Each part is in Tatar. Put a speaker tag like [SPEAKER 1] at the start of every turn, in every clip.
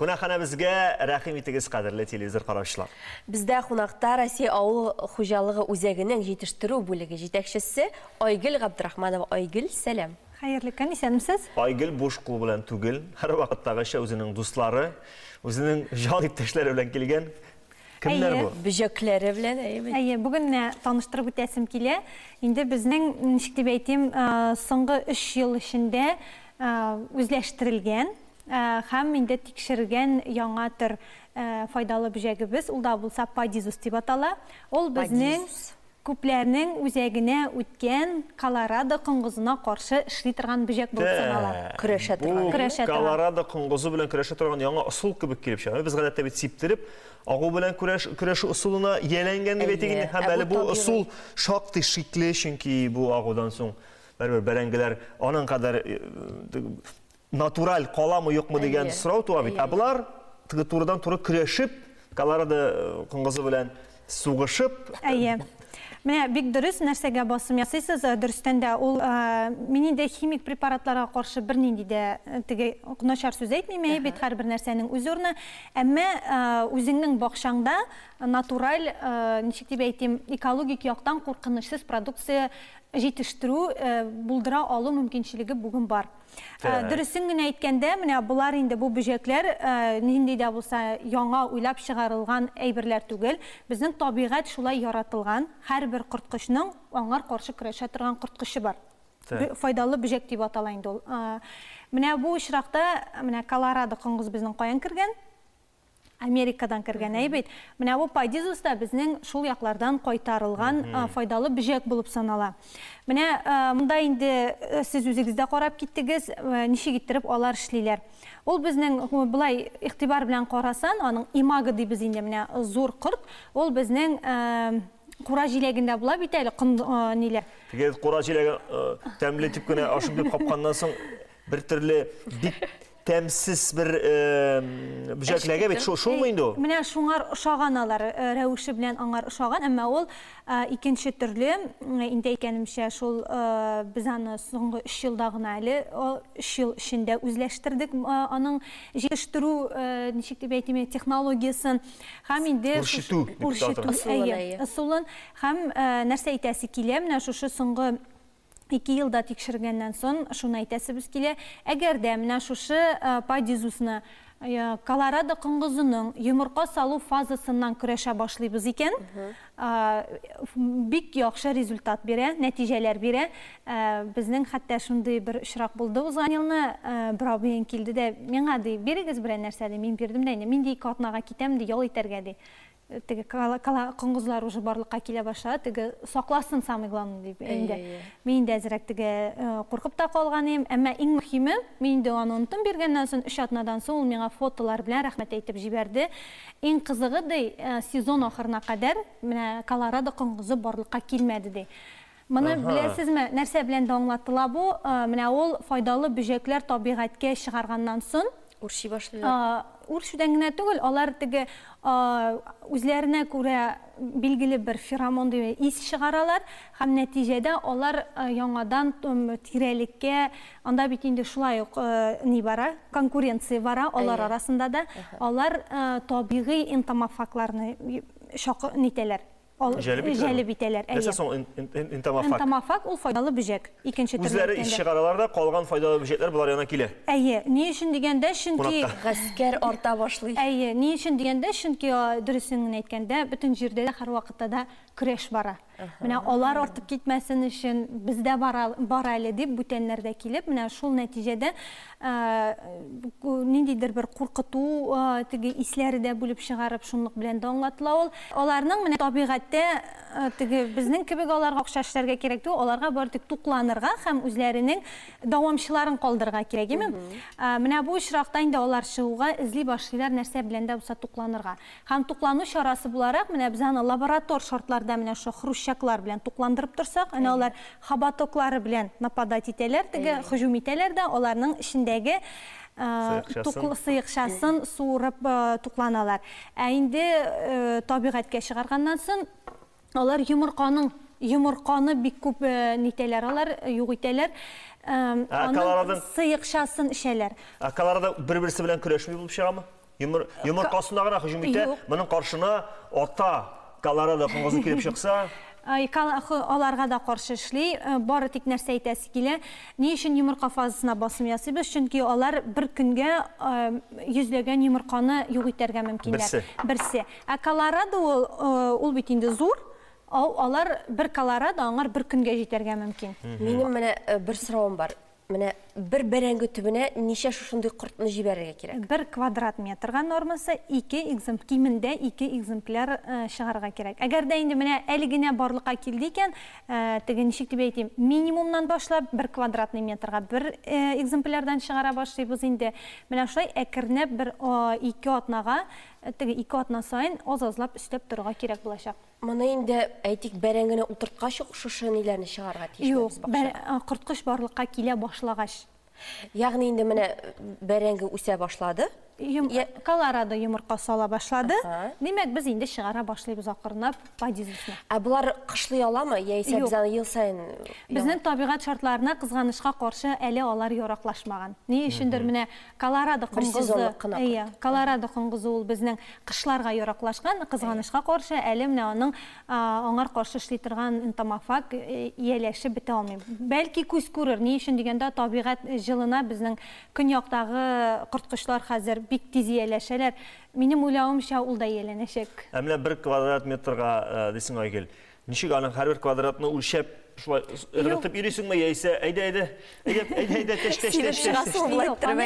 [SPEAKER 1] Кунакханәбезгә рәхим итегез, кадерле телевизор караучылар. Бездә кунакта
[SPEAKER 2] Россия авыл хуҗалыгы үзәгенең җитештерү бүлеге җитәкчесе Айгөл Габдрахманова. Айгөл, сәлам. Хәерле көн, исәнмесез?
[SPEAKER 3] Айгөл буш кул белән
[SPEAKER 1] түгел, һәрвакыттагыча үзенең дуслары, үзенең җан иптәшләре белән килгән. Кемнәр бу? Әйе, бөҗәкләре белән,
[SPEAKER 2] әйе бит. Әйе, бүген менә
[SPEAKER 3] таныштырып үтәсем килә. Инде безнең, ничек дип әйтим, соңгы өч ел эчендә үзләштерелгән, Һәм инде тикшергән яңа төр файдалы бөҗәгебез, ул да булса падизус дип атала. Ул безнең күпләрнең үзәгенә үткән колорадо коңгызына каршы эшли торган бөҗәк булып санала. Көрәшә торган.
[SPEAKER 2] Бу колорадо
[SPEAKER 1] коңгызы белән көрәшә торган яңа ысул кебек килеп чыга. Без гадәттә бит сиптереп агу белән көрәшү ысулына ияләнгән дип әйтик инде. Һәм әле бу ысул шактый шикле, чөнки бу агудан соң барыбер бәрәңгеләр аның кадәр натураль каламы юкмы дигән сорау туа бит. Ә болар турыдан туры көрәшеп, Колорадо э, коңгызы белән сугышып. Әйе.
[SPEAKER 3] Менә бик дөрес нәрсәгә басым ясыйсыз. Э, дөрестән дә ул э, мин инде химик препаратларга каршы бернинди дә теге начар сүз әйтмим, әйе бит һәрбер нәрсәнең үз урыны. Әмма үзеңнең бакчаңда натураль, ничек дип әйтим, экологик яктан куркынычсыз продукция җитештерү булдыра алу мөмкинчелеге бүген бар. Ә, дөресен генә әйткәндә, менә болар инде бу бөҗәкләр ә, нинди дә булса яңа уйлап чыгарылган әйберләр түгел. Безнең табигать шулай яратылган. Һәрбер корткычның аңар каршы көрәшә торган корткычы бар. Файдалы бөҗәк дип атала инде ул. Ә, менә бу очракта, менә Колорадо коңгыз безнең каян кергән? Америкадан кергән әй бит. Менә бу падизус та безнең шул яклардан кайтарылган файдалы бөҗәк булып санала. Менә монда инде сез үзегез дә карап киттегез, ничек иттереп алар эшлиләр. Ул безнең болай игътибар белән карасан, аның имаго дибез инде, менә зур корт, ул безнең кура җиләгендә була бит әле, ниләр. Теге кура җиләге
[SPEAKER 1] тәмле дип кенә ашыйм дип капканнан соң, бер төрле бик тәмсез бер бөҗәкләгә бит шулмы инде ул менә шуңар ошаган
[SPEAKER 3] алар рәвеше белән аңар ошаган әмма ул икенче төрле инде әйткәнемчә шул без аны соңгы өч елда гына әле өч ел эчендә үзләштердек аның җитештерү ничек дип әйтим технологиясен һәм инде үрчетү үрчетү ысулын һәм нәрсә әйтәсе килә менә шушы соңгы ике елда тикшергәннән сон шуны әйтәсебез килә, әгәр дә менә шушы падизусны колорадо коңгызының йомырка салу фазасыннан көрәшә башлыйбыз икән, бик яхшы результат бирә, нәтиҗәләр бирә. Безнең хәтта шундый бер очрак булды узган елны, бер абыең килде дә, миңа, ди, бирегез берәр нәрсә, ди, мин бирдем дә инде, мин, ди, ике атнага китәм, ди, ял итәргә, ди. теге кала коңгызлар уже барлыкка килә башлады теге сакласын самый главный дип инде мин инде әзрәк теге куркып та калган идем әмма иң мөһиме мин инде аны онтым биргәннән соң өч атнадан соң ул миңа фотолар белән рәхмәт әйтеп җибәрде иң кызыгы ди сезон ахырына кадәр менә колорадо коңгызы барлыкка килмәде ди Моны Аһа. беләсезме, нәрсә белән дә аңлатыла бу, менә ул файдалы бөҗәкләр табигатькә чыгарганнан сон, Үрчи башлыйлар. а,
[SPEAKER 2] үрчүдән генә түгел,
[SPEAKER 3] алар теге, а, үзләренә күрә билгеле бер феромон дигән ис чыгаралар һәм нәтиҗәдә алар а, яңадан м, тирәлеккә, анда бит инде шулай ук а, ни бара, конкуренция бара алар Әйе. арасында да, алар а, табигый энтомофагларны и- чакы, нитәләр, Җәлеп итәләр. Нәрсә соң
[SPEAKER 1] энтомофаг? Энтомофаг ул файдалы
[SPEAKER 3] бөҗәк. Икенче төрле. Үзләре ис чыгаралар да,
[SPEAKER 1] калган файдалы бөҗәкләр болар янына килә. Әйе, ни өчен
[SPEAKER 3] дигәндә, чөнки гаскәр арта
[SPEAKER 2] башлый. Әйе, ни өчен дигәндә,
[SPEAKER 3] чөнки дөресен генә әйткәндә, бөтен җирдә дә һәрвакытта да көрәш бара. Менә алар артып китмәсен өчен, без дә бар әле дип, бүтәннәр дә килеп, менә шул нәтиҗәдә ниндидер бер куркыту теге исләре дә бүлеп чыгарып шунлык белән дә аңлатыла ул аларның менә табигатьтә теге безнең кебек аларга акча эшләргә кирәк түгел аларга бары тик тукланырга һәм үзләренең дәвамчыларын калдырырга кирәк име менә бу очракта инде алар чыгуга эзли башлыйлар нәрсә белән дә булса тукланырга һәм туклану чарасы буларак менә без аны лаборатор шартларда менә шул хрущаклар белән тукландырып торсак әнә алар Хоботоклары белән нападать итәләр теге, һөҗүм итәләр дә, аларның эчендәге сыекчасын суырып тукланалар. Ә инде табигатькә чыгарганнан сон, алар йомырканың, йомырканы бик күп нитәләр алар, юк итәләр.
[SPEAKER 1] Аның сыекчасын эчәләр.
[SPEAKER 3] Ә
[SPEAKER 1] колорадо бер-берсе белән көрәшми
[SPEAKER 3] булып
[SPEAKER 1] чыгамы? Йомыр, йомыркасына гына һөҗүм итә. Моның каршына ата Колорадо коңгызы килеп чыкса,
[SPEAKER 3] аларга да каршы эшли. Э, бары тик нәрсә әйтәсе килә, ни өчен йомырка фазасына басым ясыйбыз? Чөнки алар бер көнгә э, йөзләгән йомырканы юк итәргә мөмкиннәр. Берсе. Берсе. Ә Колорадо ул, э, ул бит инде зур. Алар бер Колорадо аңар бер көнгә җитәргә мөмкин. Минем менә
[SPEAKER 2] бер соравым бар. Менә бер бәрәңге төбенә ничә шушындый кортны җибәрергә кирәк? Бер квадрат метрга
[SPEAKER 3] нормасы ике экземп, кимендә ике экземпляр чыгарырга кирәк. Әгәр дә инде менә әле генә барлыкка килде икән, теге ничек дип әйтим, минимумнан башлап, бер квадратный метрга бер экземплярдан чыгара башлыйбыз инде. Менә шулай әкренләп бер ике атнага, теге ике атна саен аз-азлап өстәп торырга кирәк булачак. Моны инде,
[SPEAKER 2] әйтик, бәрәңгене утырткач ук шушы ниләрне чыгарырга тиешме без бакчага? Юк, э, корткыч
[SPEAKER 3] барлыкка килә башлагач. Ягъни инде
[SPEAKER 2] менә бәрәңге үсә башлады. Юм... Я... Колорадо
[SPEAKER 3] йомырка сала башлады. Ага. Димәк, без инде чыгара башлыйбыз акырынлап бадизисны. Ә болар кышлый
[SPEAKER 2] аламы? Яисә без аны ел саен Безнең табигать
[SPEAKER 3] шартларына кызганычка каршы әле алар яраклашмаган. Ни өчендер менә Колорадо коңгызы, әйе, Колорадо коңгызы ул безнең кышларга яраклашкан, кызганычка каршы, әле менә аның аңар каршы эшли торган энтомофаг ияләшеп бетә алмый. Бәлки күз күрер, ни өчен дигәндә, табигать җылына, безнең көньяктагы корткычлар хәзер бик тиз ияләшәләр. Минем уйлавымча, ул да ияләнәчәк. Ә менә бер квадрат
[SPEAKER 1] метрга, дисең, Айгөл, Ничек аның һәрбер квадратны үлчәп, шулай ыргытып йөрисеңме яисә әйдә әйдә әйдә әйдә әйдә теш теш теш теш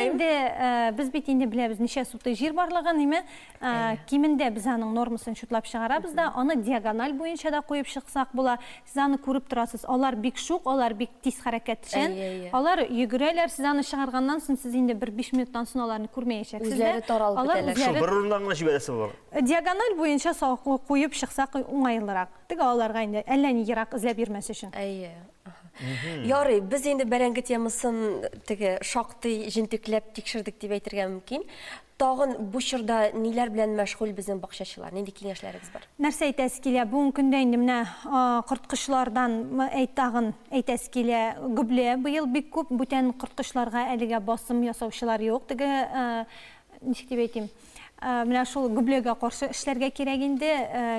[SPEAKER 1] инде
[SPEAKER 3] э, без бит инде беләбез ничә сутый җир барлыгын име э, кимендә без аның нормасын чутлап чыгарабыз да аны диагональ буенча да куеп чыксак була сез аны күреп торасыз алар бик шук алар бик тиз хәрәкәтчән алар йөгерәләр сез аны чыгарганнан соң сез инде бер биш минуттан соң аларны күрмәячәксез үзләре таралып
[SPEAKER 2] бетәләр бер урыннан гына җибәрәсе
[SPEAKER 1] булалар Диагональ буенча
[SPEAKER 3] салкын куеп чыксак уңайлырак. Теге аларга инде әллә ни ерак эзләп йөрмәс өчен. Әйе.
[SPEAKER 2] Ярый, без инде бәрәңге темасын теге шактый җентекләп тикшердек дип әйтергә мөмкин. Тагын бу чорда ниләр белән мәшгуль безнең бакчачылар? Нинди киңәшләрегез бар? Нәрсә әйтәсе килә?
[SPEAKER 3] Бүгенге көндә инде менә корткычлардан әйт тагын әйтәсе килә. Гөбле быел бик күп, бүтән корткычларга әлегә басым ясаучылар юк. Теге ничек дип әйтим? Менә шул гөбләгә каршы эшләргә кирәк инде.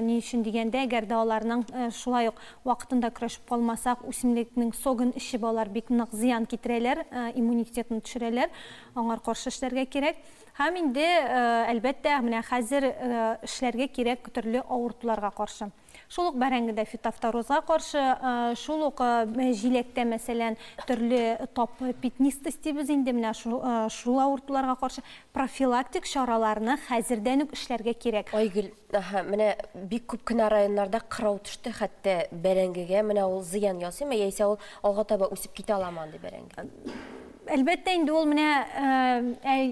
[SPEAKER 3] Ни өчен дигәндә, әгәр дә аларның шулай ук вакытында көрәшеп калмасак, үсемлекнең согын эчеп алар бик нык зыян китерәләр, иммунитетны төшерәләр. Аңар каршы эшләргә кирәк. Һәм инде, әлбәттә, менә хәзер эшләргә кирәк төрле авыртуларга каршы. Шул ук бәрәңгедә фитофторозга каршы, шул ук җиләктә, мәсәлән, төрле топ пятнистость дибез инде, менә шул авыртуларга каршы профилактик чараларны хәзердән үк эшләргә кирәк. Айгөл, аһа,
[SPEAKER 2] менә бик күп кенә районнарда кырау төште, хәтта бәрәңгегә, менә ул зыян ясыймы, яисә ул алга таба үсеп китә аламы андый бәрәңге? Әлбәттә
[SPEAKER 3] инде ул менә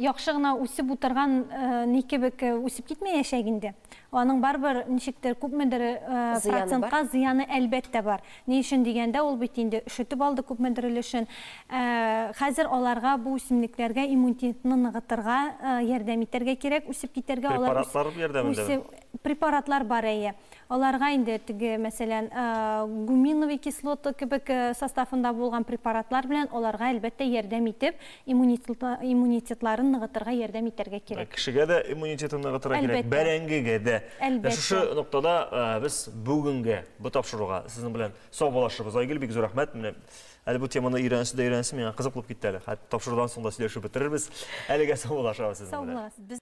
[SPEAKER 3] яхшы гына үсеп утырган ни кебек үсеп китмәячәк инде. Аның барыбер ничектер күпмедер процентка зыяны әлбәттә бар. Ни өчен дигәндә, ул бит инде өшетеп алды күпмедер өлешен. Хәзер аларга бу үсемлекләргә иммунитетны ныгытырга ярдәм итәргә кирәк, үсеп китәргә. Препаратлар ярдәмендә бит.
[SPEAKER 1] Препаратлар
[SPEAKER 3] бар, әйе. Аларга инде теге, мәсәлән, гуминовый кислота кебек составында булган препаратлар белән аларга әлбәттә ярдәм итеп, иммунитетларын ныгытырга ярдәм итәргә кирәк. Кешегә дә иммунитетын
[SPEAKER 1] ныгытырга кирәк, бәрәңгегә дә. Әлбәттә. Шушы ноктада без бүгенгә бу тапшыруга сезнең белән саубуллашабыз. Айгөл, бик зур рәхмәт. Менә әле бу теманы өйрәнәсе дә өйрәнәсе, миңа кызык булып китте әле. Хәтта тапшырудан соң да сөйләшеп бетерербез. Әлегә саубуллашабыз сезнең белән. Саубуллашабыз.